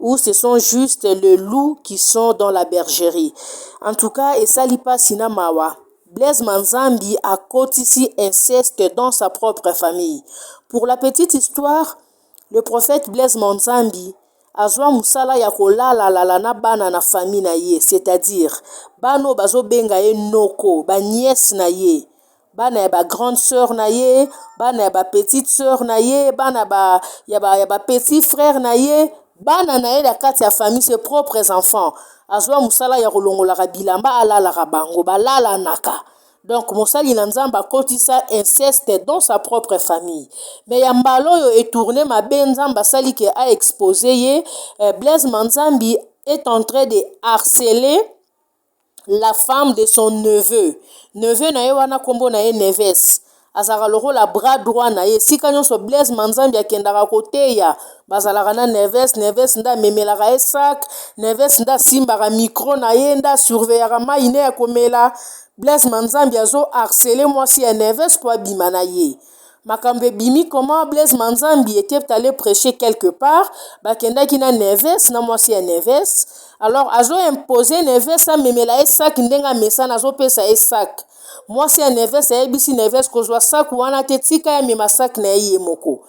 ou ce sont juste le loup qui sont dans la bergerie en tout cas esali pasi na mawa Blaise Manzambi akotisi inceste dans sa propre famille pour la petite histoire le prophète Blaise Manzambi azwa musala ya kolala lala na bana na famille na ye c'est-à-dire bano bazobenga ye noko ba nièce na ye bana ya ba grande sœur na ye bana ya ba petite sœur na ye bana ba ya ba ya ba petit frère na ye bana na ye na kati ya famille ses propres enfants azwa mosala ya kolongolaka bilamba alalaka bango balalanaka donc mosali na nzambe akotisa inceste dans sa propre famille mais ya mbala oyo etourne mabe nzambe asali ke a expose ye eh, blaise manzambi est en train de harceler la femme de son neveu neveu na ye wana nkombo na ye neves azalaka lokola bras droit na ye esika nyonso blaise manzambi akendaka koteya bazalaka na neves neves nde amemelaka ye sak neves nde asimbaka mikro na ye nde asurveyaka mai ne ya komela blaise manzambi azo harcele mwasi ya neves mpo abima na ye makambo ebimi comment blaise manzambi était allé prêcher quelque part bakendaki na neves na mwasi ya neves alors azo impose neves amemela ye sac ndenge amesana azopesa ye sac mwasi ya neves ayebisi neves kozwa sac wana te tika ye amema sac na ye ye moko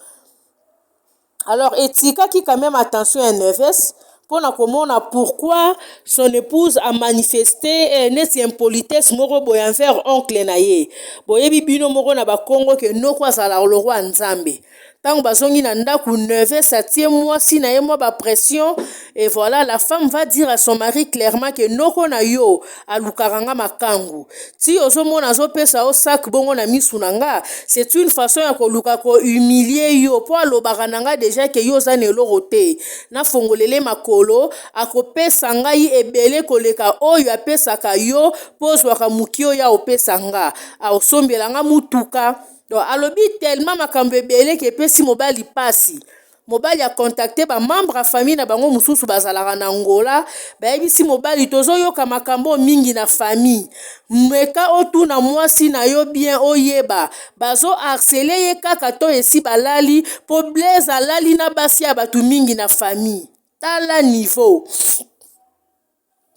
Alors etikaki quand même attention ya Neves mpo na komona pourquoi son épouse a manifeste eh, neti impolitesse moko boye envers oncle na ye boyebi bino moko na bakongo ke noko azalaka lokwa ya nzambe ntango bazongi na ndako Neves atie mwasi na ye mwa bapression et voilà la femme va dire à son mari clairement ke noko na yo alukaka nga makangu ti ozomona azopesa yo sac bongo na misu na nga c'est une façon ya koluka ko humilier yo po alobaka na nga deja ke yo oza na eloko te nafongolele makolo akopesa ngai ebele koleka oyo apesaka yo po ozwaka moki oyo aopesa nga aosombela nga motuka donc alobi tellement makambo ebele ke epesi mobali pasi Mobali a contacter ba membres ya famille na bango mosusu bazalaka na Angola, bayebisi mobali tozoyoka makambo mingi na famille. Meka otuna mwasi na yo bien oyeba. Bazo harceler ye kaka to esi balali po Blaise alali na basi ya bato mingi na famille. Tala niveau.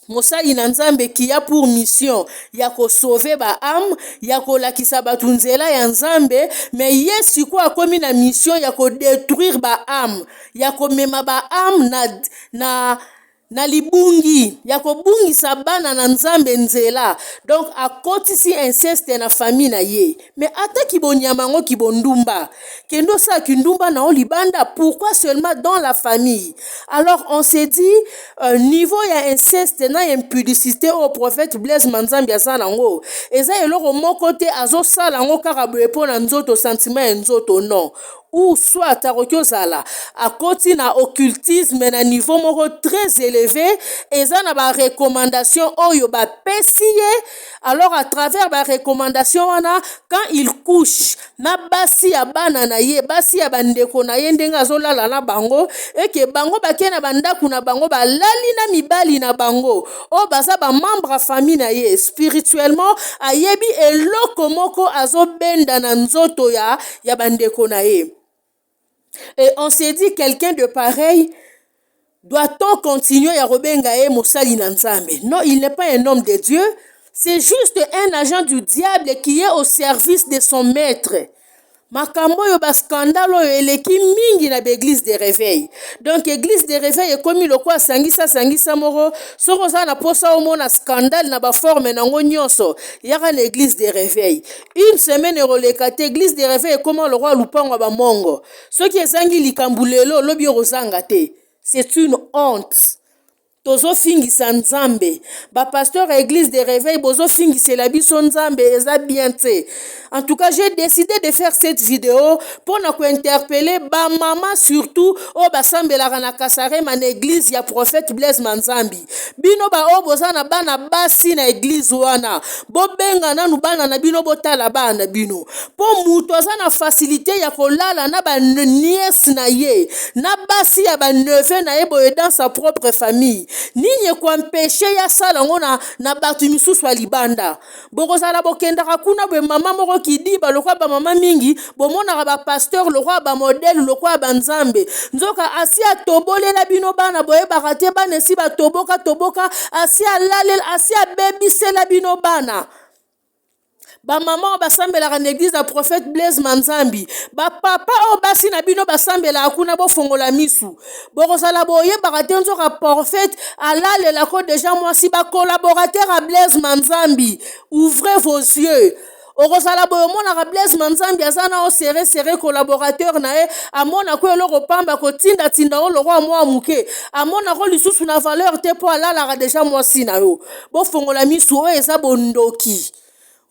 Mosali na Nzambe qui a pour mission ya ko sauver ba âmes, ya kolakisa batu nzela ya Nzambe, mais ye sikoyo akomi na mission ya ko detruire ba âmes, ya komema ba âmes na, na na libungi ya kobungisa bana na Nzambe nzela, donc akotisi inceste na famille na ye. Mais ata ki bonyama yango ki bondumba kende osala kindumba na yo libanda pourquoi seulement dans la famille alors on se dit euh, niveau ya inceste na ya impudicité oyo prophète blaise manzambi aza nango eza eloko moko te azosala yango kaka boye mpo na nzoto sentiment ya nzoto non ou soit akoki ozala akoti na occultisme na niveau moko très élevé eza na barecommandation oyo bapesi ye alors à travers ba recommandation wana quand il couche na basi ya bana na ye basi ya bandeko na ye ndenge azolala na bango eke bango bakei na bandako na bango balali na mibali na bango oyo baza bamembre ya famille na ye spirituellement ayebi eloko moko azobenda na nzoto ya ya bandeko na ye et on se dit quelqu'un de pareil doit-on continuer ya kobenga ye mosali na nzambe non il n'est pas un homme de dieu c'est juste un agent du diable qui est au service de son maître makambo oyo bascandale oyo eleki mingi na baeglise de réveil donc église de réveil ekomi lokola sangisa sangisa moko soki oza na mposa omona scandale na baforme na yango nyonso yaka na église de réveil Une semaine ekoleka te eglise de reveil ekoma lokola lupango ya bamongo soki ezangi likambo lelo lobi ekozanga te c'est une honte tozofingisa nzambe bapasteur ya eglise de reveil bozofingisela biso nzambe eza bien te en tout cas j'ai décidé de faire cette video mpo na kointerpele bamama surtout oyo basambelaka na kasarema na eglise ya prophète blaise manzambi bino baoyo boza na bana basi na eglize wana bobenga nanu bana na bino botala bana na bino mpo moto aza na fasilite ya kolala na baniese na ye na basi ya baneve na ye boye dans sa propre famille nini ekoampeshe ye asala yango na, na bato misusu ya libanda bokozala bokendaka kuna boye mama moko kidiba lokola bamama mingi bomonaka bapasteur lokola bamodele lokola banzambe nzoka asi atobolela bino bana boyebaka te bana esi batoboka toboka asi alalela asi abebisela bino bana bamama oyo basambelaka na eglize ya prophète blaise manzambi bapapa oyo basi na bino basambelaka kuna bofongola misu bokozala boyebaka te nzoka porfete alalelako deja mwasi bacolaborateur ya blaise manzambi ouvrez vos yeux okozala boye omonaka blaise manzambi aza na osere sere collaborateur na ye amonako eloko pamba kotindatinda yo lokola mwa moke amonako lisusu na valeur te mpo alalaka deja mwasi na yo bofongola misu oyo eza bondoki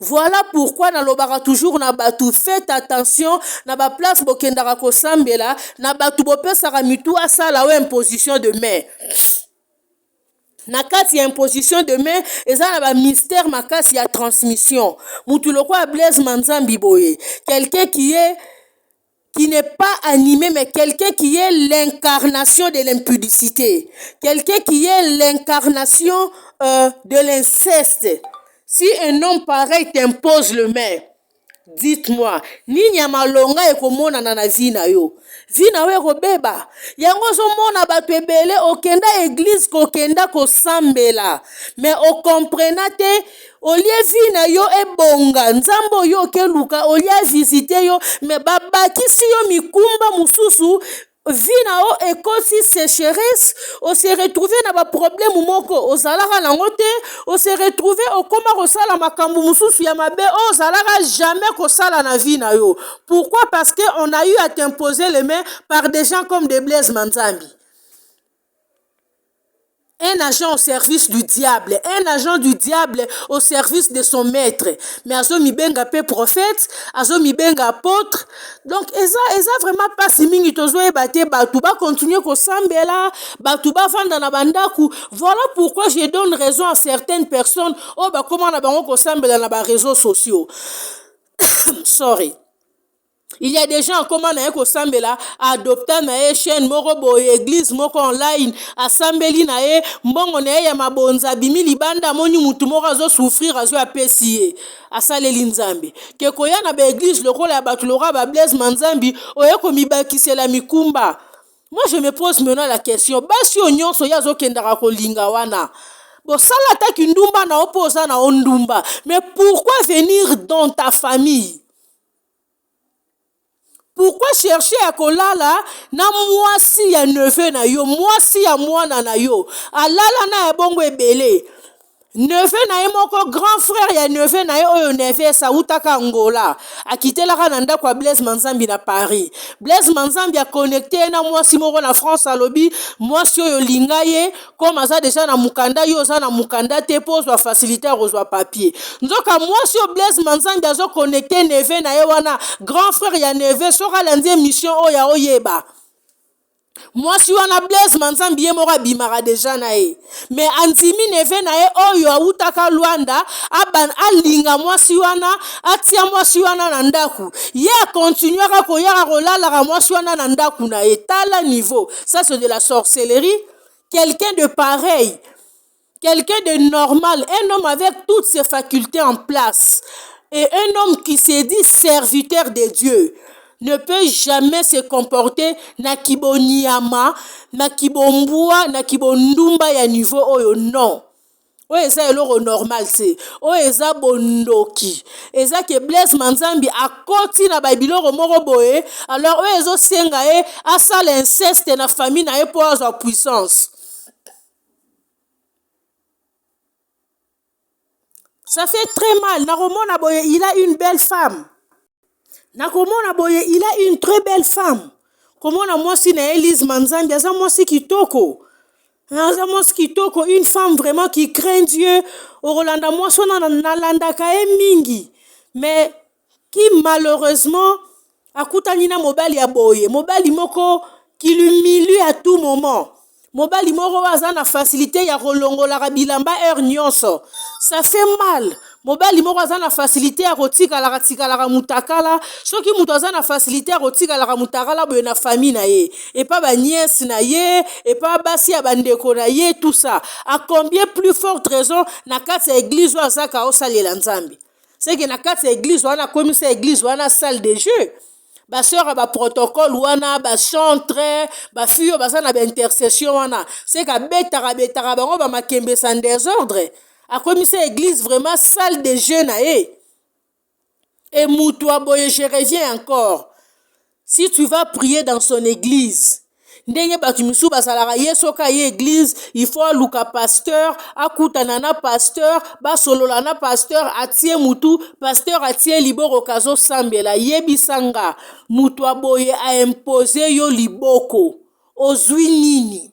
Voilà pourquoi na lobaka toujours na batu faites attention na ba place bokendaka kosambela na batu bopesaka mitu asala o imposition de main na kati ya imposition de main eza na ba mystère makasi ya transmission mutu lokola Blaise Manzambi boye quelqu'un qui est qui n'est pas animé, mais quelqu'un qui est l'incarnation de l'impudicité, quelqu'un qui est l'incarnation euh, de l'inceste. Si un homme pareil t'impose le main, dites-moi, nini ya malonga ekomonana na vie na yo? Vie na yo ekobeba. Yango ozomona bato ebele okenda eglise kokenda kosambela, mais okomprena te olie vie na yo ebonga nzambe oyo oke luka olie avisite yo me babakisi yo mikumba mosusu vie na yo ekosi secheresse ose retrouve na baproblème moko ozalaka nango te ose retrouve okoma kosala makambo mosusu ya mabe oyo ozalaka jamais kosala na vie na yo pourquoi parce que on a eu à t'imposer les mains par des gens comme de blaise manzambi un agent au service du diable un agent du diable au service de son maître mais azo mibenga pe prophète azo mibenga apotre donc eza eza vraiment pasi mingi tozo yeba te batu ba continuer kosambela batu bavanda na bandaku voilà pourquoi je donne raison à certaines personnes oyo bakoma na bango kosambela na ba reseaux sociaux sorry il y a des gens akoma na ye kosambela adopta na ye chaîne moko boye église moko online asambeli na ye mbongo na ye ya mabonza abimi libanda amoni mutu moko azo souffrir azo apesi ye asaleli nzambe ke koya na baeglise lokola ya bato lokola ba blaise manzambi oye komibakisela mikumba moi je me pose maintenant la question basi oyo nyonso ye azokendaka kolinga wana bosala ata kindumba na yo mpo oza na yo ndumba mais pourquoi venir dans ta famille pourquoi chercher ya kolala na mwasi ya neveu na yo mwasi ya mwana na yo alala na ya bongo ebele neveu na ye moko grand frère ya neveu na ye oyo neves awutaka angola akitelaka na ndako ya blaise manzambi na paris blaise manzambi aconnecte ye na mwasi moko na france alobi mwasi oyo linga ye comme aza deja na mukanda yo oza na mukanda te po ozwa facilité ya kozwa papier nzoka mwasi oyo blaise manzambi azo connecte neve na ye wana grand frère ya neve soki alandi émission oyo ya oyeba mwasi wana blaise manzambi ye moko abimaka deja na ye me andimi neve na ye oyo awutaka lwanda aban alinga mwasi wana atia mwasi wana na ndako ye akontinuaka koyaka kolalaka mwasi wana na ndako na ye tala niveau ça c'est de la sorcellerie quelqu'un de pareil quelqu'un de normal un homme avec toutes ses facultés en place et un homme qui se dit serviteur de Dieu ne peut jamais se comporter na kibonyama na kibombwa na kibondumba ya niveau oyo non oyo eza eloko normal te oyo eza bondoki eza ke blaise manzambi akoti na babiloko moko boye alors oyo ezosenga ye asala inceste na famille na ye mpo azwa puissance ça fait très mal nakomona boye il a une belle femme nakomona boye il a une très belle femme komona mwasi na ye lise manzambi aza mwasi kitoko Aza mwasi kitoko, une femme vraiment qui craint Dieu. Okolanda mwasi wana na- nalandaka ye mingi. Mais qui malheureusement akutani na mobali ya boye, mobali moko qui l'humilie à tout moment. Mobali moko oyo aza na facilite ya kolongolaka bilamba heure nionso. Ça fait mal. mobali moko aza na fasilite ya kotikalaka tikalaka mutakala soki moto aza na fasilite ya kotikalaka mutakala boye na fami na ye epa baniese na ye epa basi ya bandeko na ye tusa acombien plus forte raison na kati ya eglize oyo azaka osalela nzambe seke na kati ya eglize wana akomisa eglize wana salle de jeu ba sœur ya ba protocole wana ba chantre ba fille oyo baza na ba intercession wana seke abetaka betaka bango ba makembe sa desordre akomisa eglise vraiment salle de jeu na ye e mutu aboye je reviens encore si tu vas prier dans son église ndenge bato misusu bazalaka ye soki aye eglize il faut aluka pasteur akutana na pasteur basolola na pasteur atie mutu pasteur atie liboko kazosambela yebisa nga moto aboye aimpose yo liboko ozwi nini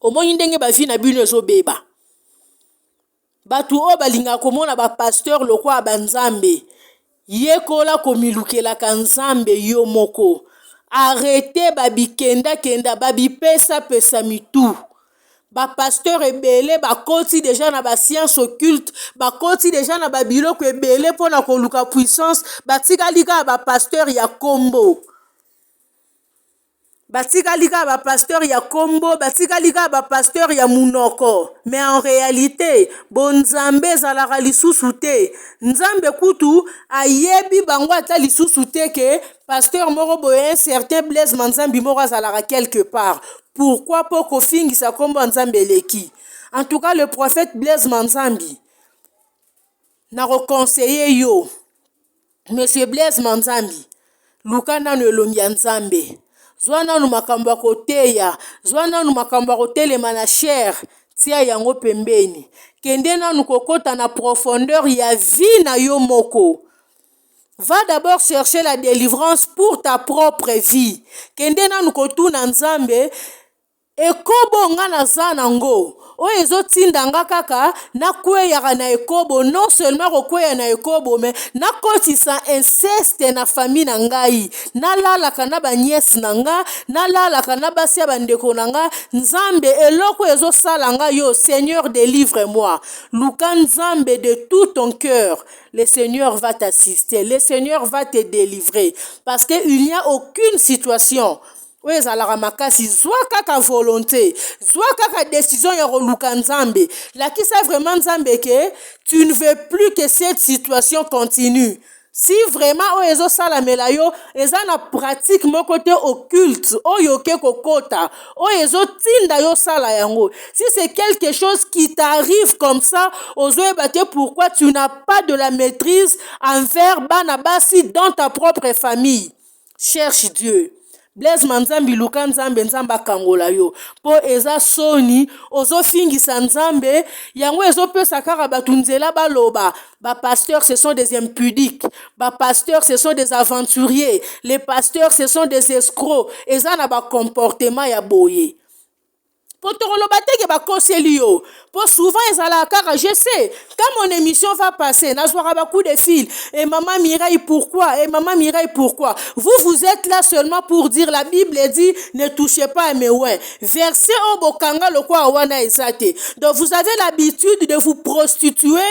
omoni ndenge ba vie na bino ezobeba bato oyo balingaka komona ba pasteur lokola ba nzambe yekola komilukelaka nzambe yo moko arrete babikendakenda babipesapesa mitu bapasteur ebele bakoti deja na basience occulte bakoti deja na babiloko ebele mpona koluka puissance batikali kaka bapasteur ya nkombo Batikali kaka ba pasteur ya kombo, batikali kaka ba pasteur ya munoko. Mais en realite, bo Nzambe ezalaka lisusu te. Nzambe kutu ayebi bango ata lisusu te que pasteur moko boye un certain Blaise Manzambi moko azalaka quelque part. Pourquoi po kofingisa kombo ya Nzambe eleki. En tout cas, le prophète Blaise Manzambi, nako conseiller yo. Monsieur Blaise Manzambi, luka nanu elongi ya Nzambe. Zwa nanu makambo ya koteya, zwa nanu makambo ya kotelema na chair, tia yango pembeni. Kende nanu kokota na profondeur ya vie na yo moko. Va d'abord chercher la delivrance pour ta propre vie. Kende nanu kotuna Nzambe Ekobo nga naza na ngo oyo ezo tinda nga kaka na kweyaka na ekobo non seulement ko kweya na ekobo mais na kotisa inceste na famille na ngai na lalaka na ba nièce na nga na lalaka na basi ya ba ndeko na nga nzambe eloko ezo sala nga yo seigneur delivre moi luka nzambe de tout ton cœur le seigneur va t'assister le seigneur va te delivrer parce que il n'y a aucune situation oyo ezalaka makasi zwa kaka volonte zwa kaka decision ya koluka nzambe lakisa vraiment nzambe ke tu ne veux plus que cette situation continue si vraiment oyo ezosalamela yo eza na pratique moko te occulte oyo oke kokota oyo ezotinda yo osala yango si c'est quelque chose qui t'arrive comme ça ozoyeba te pourquoi tu n'as pas de la maîtrise envers bana basi dans ta propre famille Cherche Dieu. Blaise manzambi luka nzambe nzambe akangola yo po eza soni ozofingisa nzambe yango ezopesa kaka bato nzela baloba ba pasteurs ce sont des impudiques ba pasteurs ce sont des aventuriers les pasteurs ce sont des escrocs eza na ba comportement ya boye Po tokoloba te ke bakoseli yo. Po souvent ezalaka kaka je sais quand mon emission va passer nazwaka ba coup de fil et maman Mireille pourquoi et maman Mireille pourquoi vous vous êtes là seulement pour dire la bible dit ne touchez pas à mes oins verset oyo bokanga lokola wana eza te donc vous avez l'habitude de vous prostituer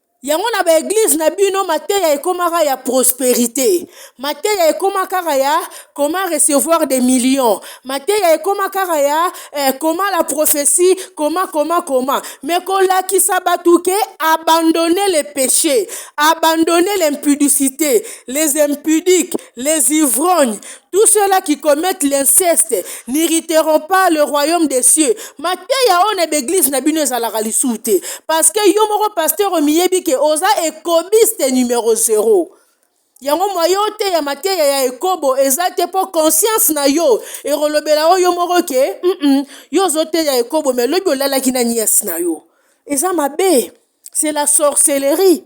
Yango na ba eglise na bino mateya ekomaka ya prosperite, mateya ekoma kaka ya comment recevoir des millions, mateya ekoma kaka ya eh, comment la prophetie, comment comment comment, mais kolakisa batu ke abandonner le peche, abandonner l'impudicite, les impudiques, les ivrognes, Tout cela qui commettent l'inceste n'irriteront pas le royaume des cieux. Mateya oyo na baeglise na bino ezalaka lisusu te. Parce que yo moko pasteur omiyebi ke oza ekobiste numero zero. Yango mwa yo oteya mateya ya ekobo eza te mpo conscience na yo ekolobela oyo moko ke mm -mm, yo ozoteya ekobo me lobi olalaki na nièce na yo. Eza mabe. C'est la sorcellerie.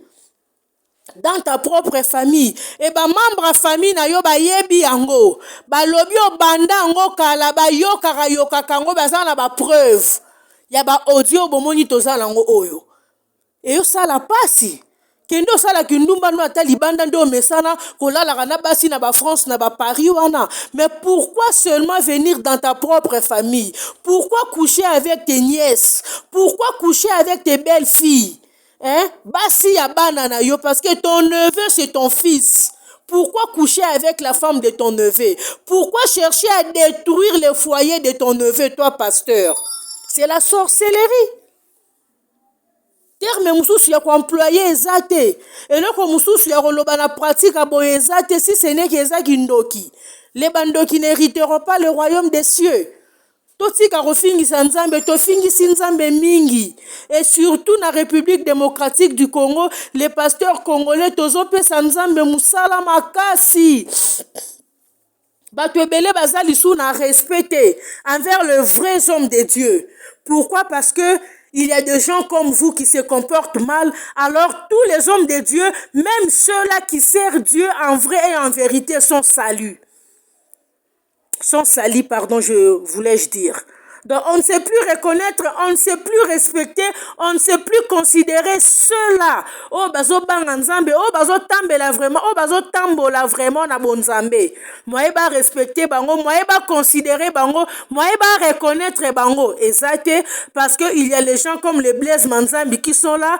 dans ta propre famille et ba membres ya famille na yo bayebi yango balobi obanda yango kala bayokaka yokaka yango baza na ba preuve ya ba audio bomoni toza na yango oyo eyosala mpasi kende osala kindumba no ata libanda nde omesana kolalaka na basi na ba france na ba paris wana mais pourquoi seulement venir dans ta propre famille pourquoi coucher avec tes nièces pourquoi coucher avec tes belles filles hein basi ya bana na yo parce que ton neveu c'est ton fils pourquoi coucher avec la femme de ton neveu pourquoi chercher à détruire le foyer de ton neveu toi pasteur c'est la sorcellerie terme mosusu ya koemploye eza te eloko mosusu ya koloba na pratique ya boye eza te si seneki eza kindoki le bandoki ne riteront pas le royaume des cieux Totika kofingisa Nzambe, tofingisi Nzambe mingi et surtout na Republique Democratique du Congo, les pasteurs congolais tozopesa Nzambe musala makasi. Bato ebele baza lisu na respect te envers le vrai homme de Dieu. Pourquoi? Parce que il y a des gens comme vous qui se comportent mal, alors tous les hommes de Dieu, même ceux-là qui servent Dieu en vrai et en vérité, sont salus. sont salis, pardon, je voulais-je dire. Donc on ne sait plus reconnaître, on ne sait plus respecter, on ne sait plus considérer ceux-là. Oh bazo banga nzambe, oh bazo tambela vraiment, oh bazo tambola vraiment na bon nzambe. Moye ba respecter bango, moye ba considérer bango, moye ba reconnaître bango. Exacte, parce que il y a les gens comme les Blaise Manzambi qui sont là,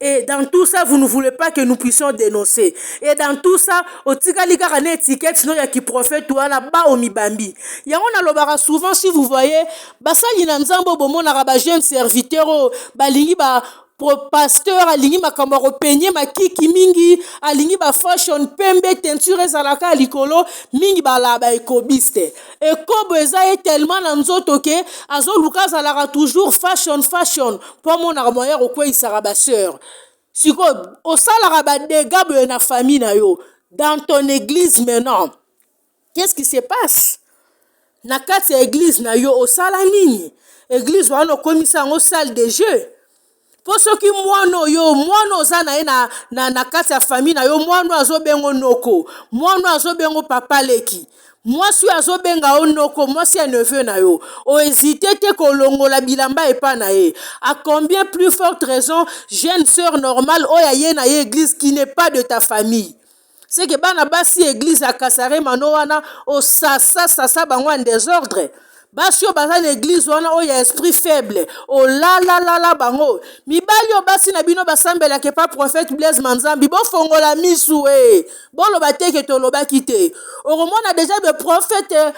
et dans tout ça vous ne voulez pas que nous puissions denoncer et dans tout ça otikali kaka na etiquette no ya ki prophète wana ba omibambi yango nalobaka souvent si vous voyez basali na nzambe oyo bomonaka ba jeune serviteur oyo balingi ba pasteur alingi makambo ya kopenye makiki mingi alingi ba fashion pembe teinture ezalaka likolo mingi bala ba ekobiste ekobo eza ye tellement na nzoto ke azoluka azalaka toujours fashion fashion mpo amonaka moyen ya kokweisaka baseur sikoyo osalaka badega boye na famille na yo dans ton église maintenant qu'est ce qui se passe na kati ya eglise na yo osala nini eglise wana okomisa yango salle de jeu mpo soki mwana oyo mwana oza na ye na, na, na kati ya fami na yo mwana oyo azobengo noko mwana oyo azobengo papa leki mwasi oyo azobenga yo noko mwasi ya neveu na yo oezite te kolongola bilamba epai na ye a combien plus forte raison jeune sœur normale oyo aye na ye eglise qui n'est pas de ta famille seke bana basi ya eglize ya kasare mano wana osasa sasa bango ya desordre basi oyo baza na eglize wana oyo ya esprit faible olalalala bango mibali oyo basi na bino basambelaka epa prophète blaise manzambi bofongola misu e boloba teke tolobaki te okomona deja be prophète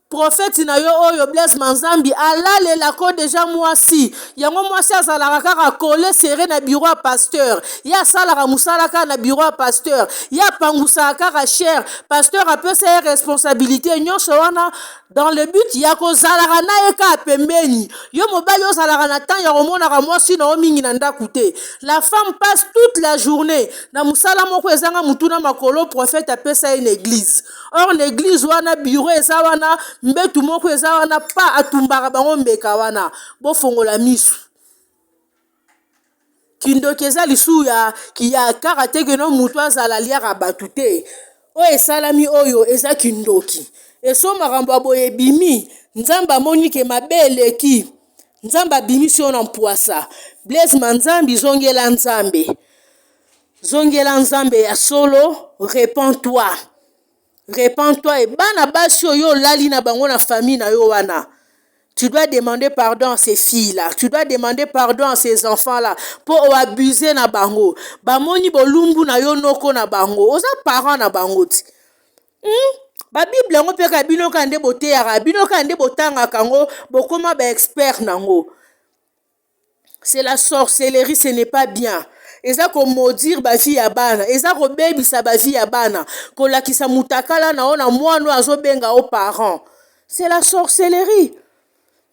Prophète na yo oyo Blaise Manzambi alalela ko dejà muasi yango muasi azalaka kaka colle serre na bureau ya pasteur ye asalaka musala kaka na bureau ya pasteur ye apangusaka kaka cher pasteur apesa ye responsabilité nyonso wana dans le but ya kozalaka na ye kaka pembeni yo mobali ozalaka na temps ya komonaka mwasi na yo mingi na ndako te la femme passe toute la journée na mosala moko ezanga motuna makolo prophète apesa ye na église or na eglise wana bureau eza wana mbetu moko eza wana pa atumbaka bango mbeka wana bofongola misu kindoki eza lisusu ya, ya kaka te keno motu azala aliaka bato te oyo esalami oyo eza kindoki eso makambo ya boye ebimi nzambe amoni ke mabe eleki nzambe abimisi yo na mpwasa blaise manzambi zongela nzambe Zongela Nzambe ya solo, repends-toi. Repends-toi et bana basi oyo olali na bango na famille na yo wana. Tu dois demander pardon à ces filles-là. Tu dois demander pardon à ces enfants-là. Po o abuser na bango. Bamoni bolumbu na yo noko na bango. Oza parent na bango ti. Hmm? Ba Bible yango pe ka bino ka nde boteyaka, bino ka nde botangaka yango, bokoma ba expert na yango. c'est la sorcellerie ce n'est pas bien eza ko maudire ba vie ya bana eza ko bebisa ba vie ya bana ko lakisa mutakala na ona mwana oyo azo benga o parent c'est la sorcellerie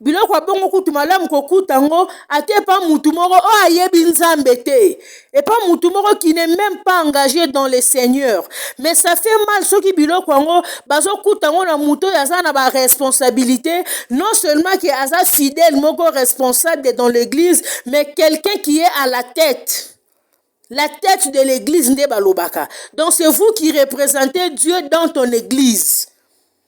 biloko abongo kutu malamu kokuta yango ate pa mutu moko oyo ayebi nzambe te epa mutu moko qui n'est même pas engagé dans le seigneur mais ça fait mal soki biloko yango bazokuta yango na moto oyo aza na baresponsabilité non seulement ke aza fidèle moko responsable dans l'église mais quelqu'un qui est à la tête la tête de l'église nde balobaka donc c'est vous qui représentez dieu dans ton église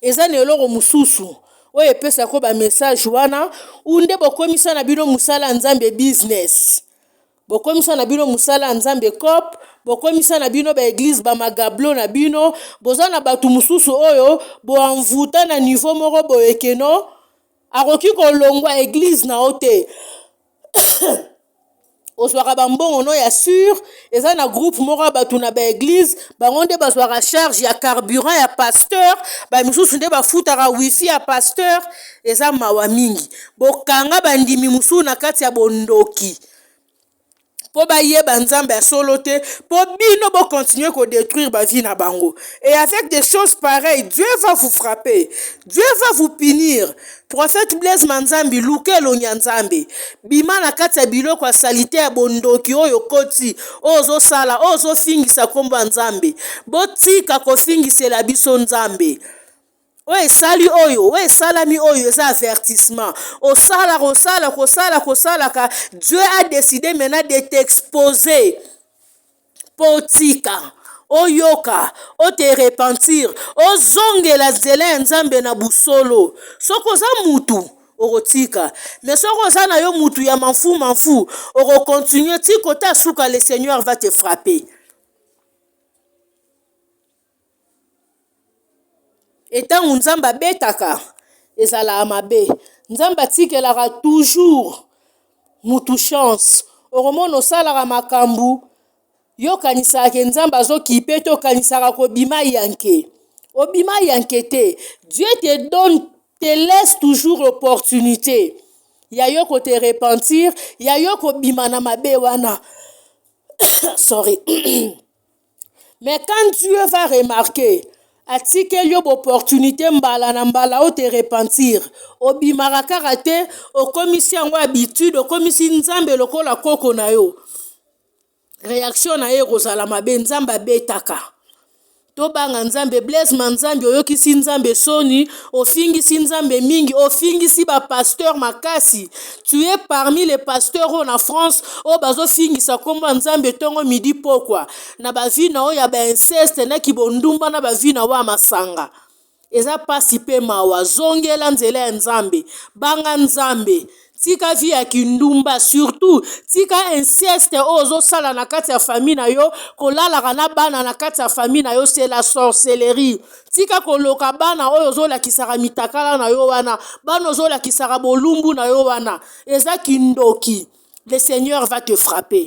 eza na eloko mosusu oyo epesaka yo bamessage wana ou nde bokomisa na bino mosala ya nzambe business bokomisa na bino mosala ya nzambe cop bokomisa na bino baeglize bamagablo na bino boza na bato mosusu oyo boanvuta na niveau moko boyekeno akoki kolongwa eglize na yo te ozwaka bambongo no ya sur eza na groupe moko ya bato na baeglize bango nde bazwaka charge ya carburant ya pasteur bamisusu nde bafutaka wifi ya pasteur eza mawa mingi bokanga bandimi mosusu na kati ya bondoki mpo bayeba nzambe ya solo te mpo bino bokontinue kodétruire bavie na bango et avec des choses pareilles dieu va vous frapper dieu va vous punir Prophète Blaise Manzambi luka elongi ya Nzambe bima na kati ya biloko ya salite ya bondoki oyo okoti oyo ozosala oyo ozofingisa nkombo ya Nzambe botika kofingisela biso Nzambe oyo esali oyo oyo esalami oyo eza avertissement osala kosala kosala kosalaka Dieu a décidé maintenant de t'exposer mpo otika oyoka ote repentir ozongela nzela ya nzambe na busolo soki oza mutu okotika me soki oza na yo mutu ya manfu manfu okokontinue ti kota suka le seigneur va te frapper et ntango nzambe abetaka ezalaka mabe nzambe atikelaka toujours mutu chance okomona osalaka makambu yo okanisaka ke nzambe azo kipe te okanisaka kobima yanke obima yanke te Dieu te donne, te laisse toujours l'opportunite ya yo ko te repentir ya yo kobima na mabe wana sorry. Mais quand Dieu va remarquer, atikeli yo opportunité mbala na mbala o te repentir obimaka kaka te okomisi yango habitude okomisi nzambe lokola koko na yo réaction na ye ekozala mabe nzambe abetaka tobanga nzambe blaise manzambi oyokisi nzambe soni ofingisi nzambe mingi ofingisi bapasteur makasi Tu es parmi les pasteurs oyo na France oyo bazofingisa nkombo ya Nzambe ntongo midi pokwa na bavie na oyo ya bainceste na kibondumba na bavie na oyo ya masanga eza mpasi mpe mawa zongela nzela ya Nzambe banga Nzambe tika vie ya kindumba surtout tika inceste oyo ozosala na kati ya famille na yo kolalaka na bana na kati ya famille na yo c'est la sorcellerie tika koloka bana oyo ozolakisaka mitakala na yo wana bana ozolakisaka bolumbu na yo wana eza kindoki le seigneur va te frapper